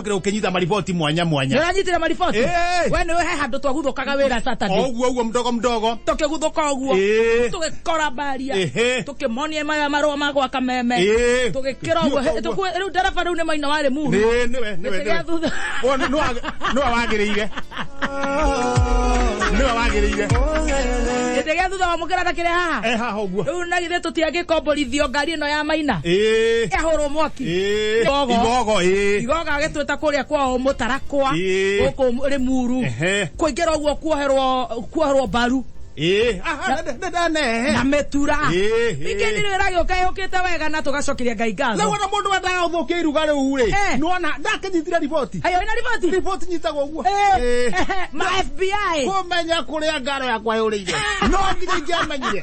ũkĩra ũkĩnyita mariboti mwanya mwanya nĩũranyitire mariboti Eh. we nĩwe he handũ twaguthũkaga wĩra saturday oguo oguo mdogo mdogo tũkĩguthũka ũguo Eh. tũgĩkora mbaria Ehe. tũkĩmonia maya marũa ma gwaka meme Eh. tũgĩkĩra ũguo He- Ũguo. tũkue- rĩu ndereba rĩu nĩ maina warĩ muhu Nĩ- nĩwe nĩwe Gĩtĩ gĩa thutha. nĩwe Ũyũ nĩ- nĩwe- nĩwe wagĩrĩire nĩwe wagĩrĩire gĩtĩ gĩa thutha wa mũkĩra takĩrĩ haha ehaha ũguo rĩu na githĩ tũtiangĩkomborithio ngari ĩno ya maina ĩĩ yahũrwo mwaki Ĩĩ, Igogo. igogo ĩĩ. igoga agĩtwĩta kũrĩa kwao mũtarakwa Ĩĩ. gũkũ rĩ muru Ehe. kũingĩra ũguo kuoherwo kuoherwo mbaru Ĩĩ. Aha, nĩ- nĩ- nĩ- nĩ- na mĩtura Ĩĩ, ĩĩ. ningĩ ndirĩ wĩragio kaĩ hũkĩte wega na tũgacokeria ngai rĩu ngatho ona mũndũ wendaga ũthũkia iruga rĩu rĩ Eh. nona ndakĩnyitire riboti ayo ina riboti riboti nyitagwo ũguo Eh, Ĩĩ. ehe, ma FBI kũmenya kũrĩa ngaro yakwa yũrĩire no nginya ingĩamenyire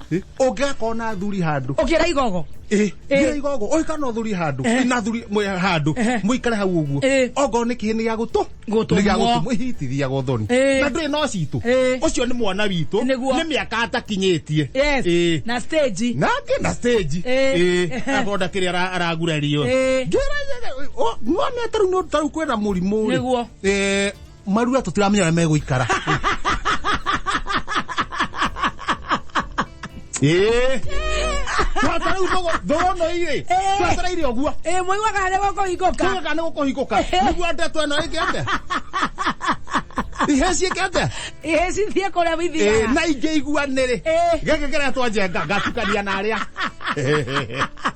ũngĩga korwo na thuri handũ ũkĩra igogo Eh. ngira igogo ũyũ kana ũthuri handũ Eh. na thuri mwe- handũ Eh. mũikare hau ũguo Eh. ongorwo nĩ kĩhĩ nĩ gĩa gũtũ Gũtũmwo. nĩ gĩa gũtũmwo ihitithiaga ũthoni Eh. na ndũrĩ no citũ Eh. ũcio nĩ mwana witũ Nĩguo. nĩ mĩaka atakinyĩtie yes Eh. na stage na angĩ na stage Eh. agonda kĩrĩa ara- aragurario Eh. ngĩra ng'one tarũ nĩ tarũ kwĩna mũrimũ rĩ. Nĩguo. Eh, marua tutiramenya ũrĩa megũikara Ĩĩ. Twatara rĩu thogo- thogo ĩno irĩ twatara irĩ ũguo ä mwä waga harä gå kå hingå ka tugaga nĩ gũkũhingũka nĩguo ndeto ĩno ĩngĩate ihĩ ciĩkĩte ä cithiä kå rä a Ĩĩ, ithiaga na ingĩ iguanĩrĩ Ĩĩ. gĩkĩ kĩrĩa twanjenga ngatukania na arĩa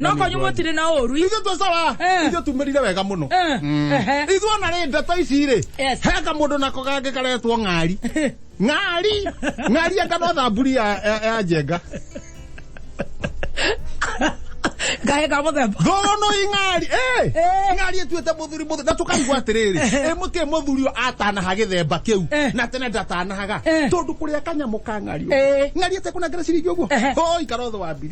no kwanyu mũtirĩ na ũru ithuĩ tũcaba Eh. ithuĩ tumĩrire wega mũno Eh, ehe. ithuĩ ona rĩ ndeto ici rĩ Yes. he kamũndũ nako kangĩ karetwo ng'ari ng'ari ng'ari anga no thamburi ya- ya ya njenga kahe ka mũthemba thono ing'ari Eh. ng'ari ĩtuĩte mũthuri mũthuri na tũkaigua atĩrĩrĩ ĩ mũtiĩ mũthuri ũyũ atanaha gĩthemba kĩu Eh. na tene ndatanahaga Eh. tondũ kũrĩa kanyamũ ka ng'ari ũguo. Eh. ng'ari ĩtekũnengera ciringi ũguo Ehe. o ikara ũthũ wa mbiri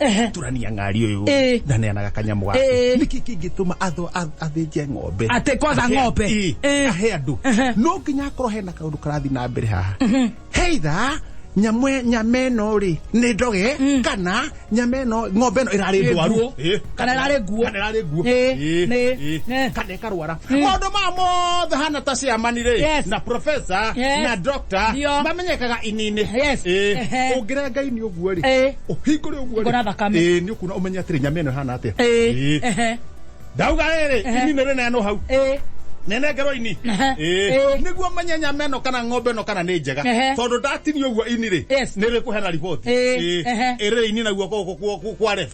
Ehe. turania ng'ari ũyũ Ĩĩ. na neanaga kanyamũ gaku Ĩĩ. nĩkĩ kĩngĩtũma atho- a- athĩnje ng'ombe Atĩ kwatha Ahe- ng'ombe. Ĩĩ. Ĩĩ. ahe andũ Ehe. no nginya akorwo hena kaũndũ karathiĩ na mbere haha heitha nyamũ e- nyama ĩno rĩ nĩ ndoge kana nyama ĩno ng'ombe ĩno ĩrarĩ Ĩĩ, ndwaru nguũ. Ĩĩ. Kana ĩrarĩ nguũ. Kana ĩrarĩ nguũ Ĩĩ. Ĩĩ. Nĩ. Ĩĩ. Ĩĩ. Kana karwara maundu maya mothe hana ta ciamani ri Yes. na profesa Yes. na doctor Ndio. mamenyekaga inini Yes. Ehe. ungire ngai ni uguo ri Eh. uhingure uguo Ngona thakame. ni ukuna umenye atiri nyama ino hana atia Eh. Ehe. ndauga riri Ehe. ini ni rineno hau Eh. nenengerwo ini Aha. Eh. niguo menye nyama ĩno kana ng'ombe ĩno kana nĩ njega Ehe. tondũ ndatinio ũguo ini rĩ Yes. nĩ rĩkũhena riboti Eh. Ehe. ĩrĩ ini naguo gũkũ kwa- kwa- kwa ref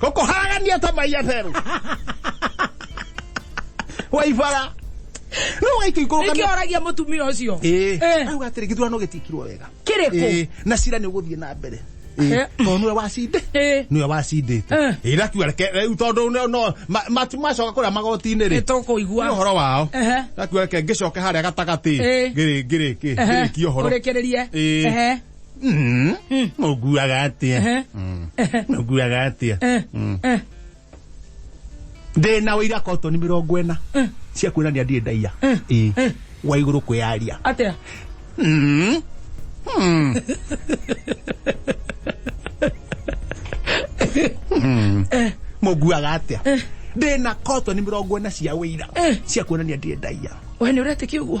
Koko hagan ya ta maya pero. Wai fara. No wai tu ikoro Niki ora gia mutumia ucio. Eh. Eh. Au gatire githurano gitikirwo wega. Kiriko. Eh. Na cira ni guthie na mbere. Eh. Eh. To nwe wacinde. Eh. Nwe wacindite. Eh. Ira kiwa reke riu tondu no- no ma- matu macoka kuria magoti-ini ri. Nitukuigua. Ni uhoro wao. Ehe. Ira kiwa reke ngicoke haria gatagati. Eh. Ngiri ngiri ki. Ehe. Ngiri ki uhoro. Urekererie. Eh. Ehe. Mm. Mm. Mũguaga atĩa? Ehe. Mm. Mũguaga atĩa? Eh, Mm. eh, Ndĩna ũira kotoni mĩrongo ĩna eh, cia kuonania ndirĩ ndaiya. Eh. Ĩĩ. Eh. Wa igũrũ kwĩyaria. atĩa Mm. Mm. Mm. Mũguaga atĩa? Ndĩna kotoni mĩrongo ĩna cia ũira Eh. cia kuonania ndirĩ ndaiya. we nä å retä kä å guo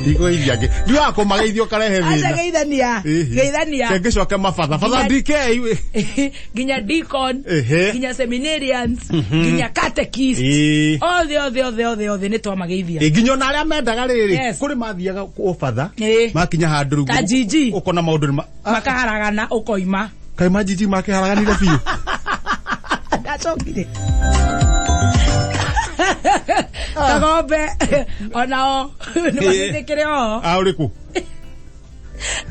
Ndigo iria ngi. Ndigo ako mageithio karehe aca thina. geithania geithania Kenge coke mabatha. Batha Nginya- DK iwe. nginya deacon Ehe. nginya seminarians nginya catechist Ĩĩ. othe othe othe othe othe nä twamageithia Ĩ, nginya ona arĩa mendaga rĩrĩ Yes. kũrĩ mathiaga ũbatha Ĩĩ. makinya handũ rĩu Ta Gigi. ũkona maũndũ nĩ ma- makaharagana ukoima kai majiji make haraganire biũ ndacokire kagombe onao nĩmathĩkĩre o a ũrĩ kũ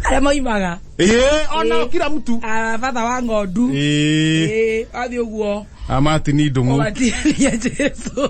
arĩa maimaga ĩĩ ona Ĩĩ. kira mtu Ah, batha wa ng'ondu ĩĩ Ĩĩ, wathiĩ ũguo amatini ndũng'ũ ũgatiania jesu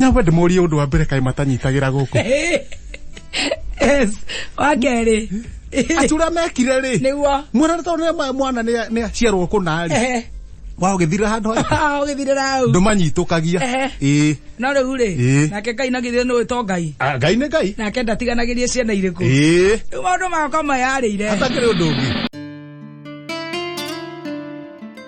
nyamba ndĩmũrie ũndũ wa mbere kaĩ matanyitagĩra gũkũ yes wa kerĩ acura mekire rĩ nĩguo mwana nĩ tondũ nĩ- mwana nĩ- nĩ aciarwo kũna rĩ Ehe. wa ũgĩthirĩra handũ harĩa ũgĩthirĩra hau ndũmanyitũkagia Ehe. ĩĩ no rĩu rĩ Ĩĩ. nake ngai nagithire nĩũĩ to ngai Ah, ngai nĩ ngai nake ndatiganagĩrie ciana irĩkũ ĩĩ rĩu maũndũ makwa mayarĩire hatakĩrĩ ũndũ ũngĩ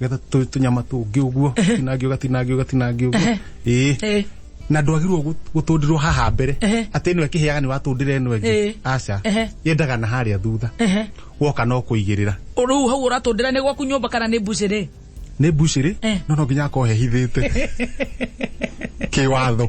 getha tũ- tũnyama tũngĩ ũguo tinangi ũgatinangi ũgatinangi ũguo ĩĩ Eh. na ndwagirwo gũ- gũtũndirwo haha mbere Ehe. atĩ ĩno ĩkĩhĩaga nĩ watũndĩra ĩno ĩngĩ Ĩĩ. aca Ehe. yendaga na harĩa thutha Ehe. woka no kũigĩrĩra Rĩu hau ũratũndĩra nĩ gwaku nyũmba kana nĩ mbucĩrĩ? nĩ mbucĩrĩ Eh. no no nginya akohehithĩte kĩwatho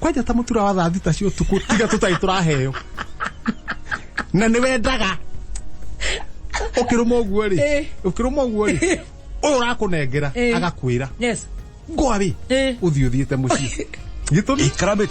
kwanja ta mutura wa thaa thita cia utuku tiga tutari turaheo na ni wendaga ukiruma uguo ri Eh. ukiruma uguo ri uyu urakunengera Eh. agakwira yes ngoa ri Eh. uthi uthiite mucii gitumi Ikrabit.